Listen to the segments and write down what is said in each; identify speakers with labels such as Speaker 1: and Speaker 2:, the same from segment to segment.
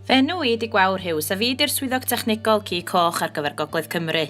Speaker 1: Fy enw i ydi Gwawr Hughes a fi ydi'r Swyddog Technegol Ci Coch ar gyfer Gogledd Cymru.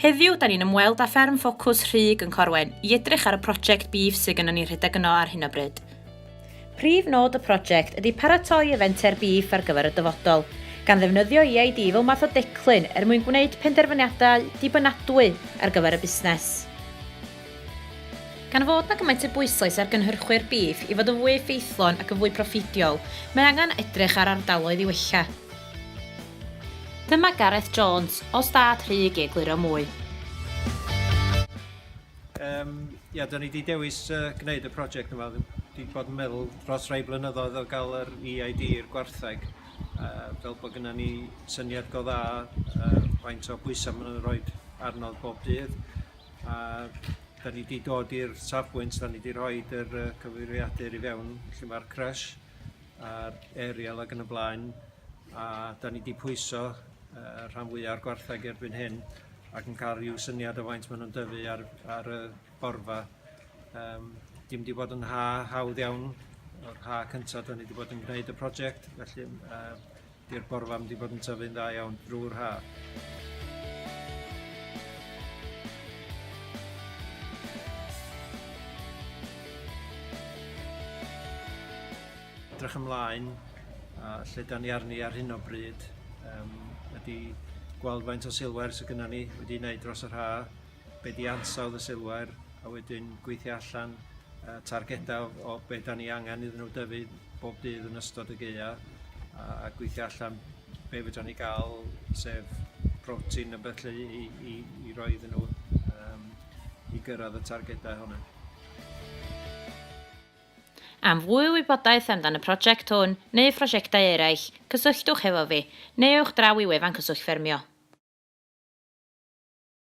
Speaker 1: Heddiw, da ni'n ymweld â fferm ffocws Rhug yn Corwen i edrych ar y prosiect bîf sydd gynnon ni rhedeg yno ar hyn o bryd. Prif nod y prosiect ydi paratoi y fenter bîf ar gyfer y dyfodol, gan ddefnyddio EID fel math o declyn er mwyn gwneud penderfyniadau dibynadwy ar gyfer y busnes. Gan fod na gymaint o bwyslais ar gynhyrchwyr bîff i fod yn fwy effeithlon ac yn fwy proffidiol, mae angen edrych ar ardaloedd i wella. Dyma Gareth Jones, o Stad Rhug i egluro mwy.
Speaker 2: Yym, ia, da ni 'di dewis uh, gwneud y prosiect yma. Di bod yn meddwl dros rai blynyddoedd o gael yr EID i'r gwartheg, uh, fel bod gyda ni syniad go dda uh, faint o bwysau maen nhw'n rhoi arnodd bob dydd. a da ni wedi dod i'r safbwynt, da ni wedi rhoi yr uh, cyfeiriadur i fewn lle mae'r crush a'r aerial ac yn y blaen, a da ni wedi pwyso uh, rhan fwyaf o'r gwartheg erbyn hyn ac yn cael rhyw syniad o faint maen nhw'n dyfu ar, ar y borfa. Um, dim wedi bod yn ha hawdd iawn, o'r ha cyntaf da ni wedi bod yn gwneud y prosiect, felly uh, Di'r porfa mynd i fod yn tyfu'n dda iawn drwy'r haf. Edrych ymlaen a lle da ni arni ar hyn o bryd um, ydy gweld faint o silwair sydd gyda ni wedi wneud dros yr haf be di ansawdd y silwair a wedyn gweithio allan uh, targedau o, o be da ni angen iddyn nhw dyfu bob dydd yn ystod y geia a, a gweithio allan be fydra ni gael sef protein yn beth i, i, i roi iddyn nhw um, i gyrraedd y targedau hwnna.
Speaker 1: Am fwy wybodaeth amdan y prosiect hwn neu phrosiectau eraill, cysylltwch hefo fi, neu ewch draw i wefan Cyswllt Ffermio.